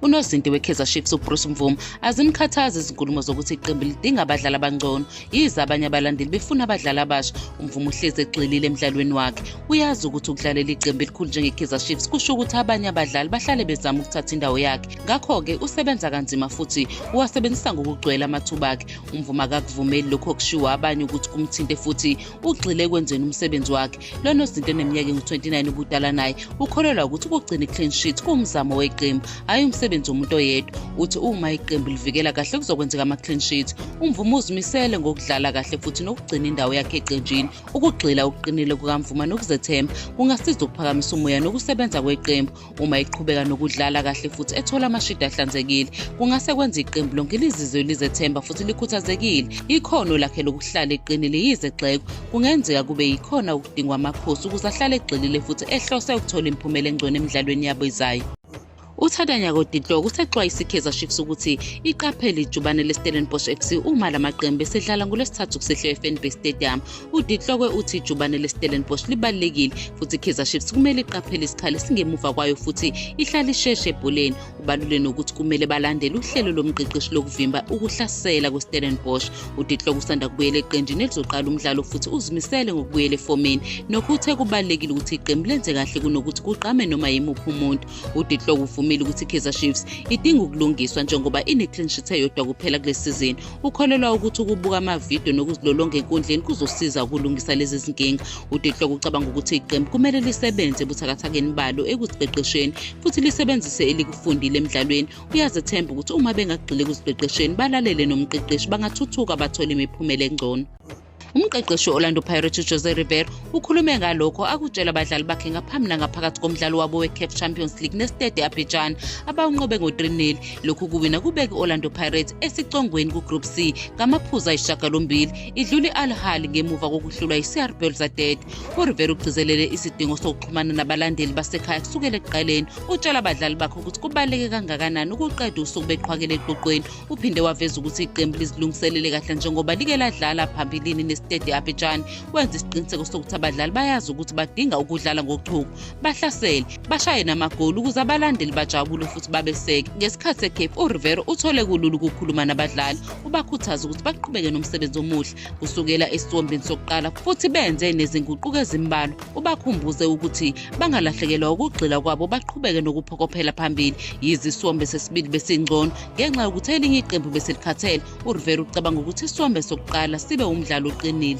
unozinti we-kaizer chiefs ubruce mvumo azimkhathazi izinkulumo zokuthi iqembu lidinga abadlali abangcono yize abanye abalandeli befuna abadlali abasha umvumo uhlezi egxilile emdlalweni wakhe uyazi ukuthi ukudlalela iqembu elikhulu njenge-kaizer chiefs kusho ukuthi abanye abadlali bahlale bezama ukuthatha indawo yakhe ngakho-ke usebenza kanzima futhi uwasebenzisa ngokugcwele amathuba akhe umvumo akakuvumeli lokho kushiwo abanye ukuthi kumthinte futhi ugxile ekwenzeni umsebenzi wakhe lo nozinto eneminyaka engu-29 ubudala naye ukholelwa ukuthi ukugcina i-clean sheet kuwumzamo weqembu hhayi umsebenzi womuntu oyedwa uthi uma iqembu livikela kahle kuzokwenzeka ama-clean sheet umvuma uzimisele ngokudlala kahle futhi nokugcina indawo yakhe eqenjini ukugxila ukuqinile kukamvuma nokuzethemba kungasiza ukuphakamisa umoya nokusebenza kweqembu Uma iqhubeka nokudlala kahle futhi ethola amashidi ahlanzekile, kungase kwenze iqembu lonke lizizwe lizethemba futhi likhuthazekile. Ikhono lakhe lokuhlala eqinile yize egxekwa, kungenzeka kube yikhona okudingwa amakhosi ukuze ahlale egxilile futhi ehlose ukuthola imiphumela engcono emidlalweni yabo izayo. UThadanya Kodidloko usexwayise iKaizer Chiefs ukuthi iqaphele ijubane leStellenbosch FC uma la maqembu esedlala ngoLwesithathu kusehlwe eFanbase Stadium UDitlokwe uthi ijubane leStellenbosch libalulekile futhi iKaizer Chiefs kumele iqaphele isikhala esingemuva kwayo futhi ihlale isheshe ebholeni. Ubalule nokuthi kumele balandele uhlelo lomqeqeshi lokuvimba ukuhlasela kweStellenbosch. UDitlokwe usanda kubuyela eqenjini elizoqala umdlalo futhi uzimisele ngokubuyela efomini. Nokho uthe kubalulekile ukuthi iqembu lenze kahle kunokuthi kuqame noma yimuphi umuntu. UDitlokwe uvumile ukuthi iKaizer Chiefs idinga ukulungiswa njengoba ine-clean sheet eyodwa kuphela kule sizini. Ukholelwa ukuthi ukubuka amavidiyo nokuzilolonga enkundleni kuzosiza ukulungisa lezi zinkinga. UDehloko ucabanga ukuthi iqembu kumele lisebenze ebuthakathakeni balo ekuziqeqesheni futhi lisebenzise elikufundile emdlalweni. Uyazethemba ukuthi uma bengagxili ekuziqeqesheni balalele nomqeqeshi bangathuthuka bathole imiphumela engcono. Umqeqeshi we-Orlando Pirates uJose River ukhulume ngalokho akutshela abadlali bakhe ngaphambi nangaphakathi komdlalo wabo we-CAF Champions League neStade Abidjan abawunqobe ngo-3-0. Lokhu kuwina kubeke i-Orlando Pirates esicongweni ku-Group C ngamaphuzu ayishagalombili idlule i-Al Ahly ngemuva kokuhlulwa yi-CR Belouizdad. URiver ugcizelele isidingo sokuxhumana nabalandeli basekhaya kusukela ekuqaleni. Utshela abadlali bakhe ukuthi kubaluleke kangakanani ukuqeda usuku beqhwakele eqoqweni Uphinde waveza ukuthi iqembu lizilungiselele kahle njengoba like ladlala phambilini nesitedi Abidjan wenza isiqiniseko sokuthi abadlali bayazi ukuthi badinga ukudlala ngochuku bahlasele bashaye namagoli ukuze abalandeli bajabule futhi babeseke ngesikhathi seCape uRivero uthole kulula ukukhuluma nabadlali ubakhuthaza ukuthi baqhubeke nomsebenzi omuhle kusukela esiwombeni sokuqala futhi benze nezinguquko ezimbalwa ubakhumbuze ukuthi bangalahlekelwa ukugxila kwabo baqhubeke nokuphokophela phambili yize isiwombe sesibili besingcono ngenxa yokuthi elinye iqembu beselikhathele urivera ucabanga ukuthi isiwombe sokuqala sibe umdlalo oqinile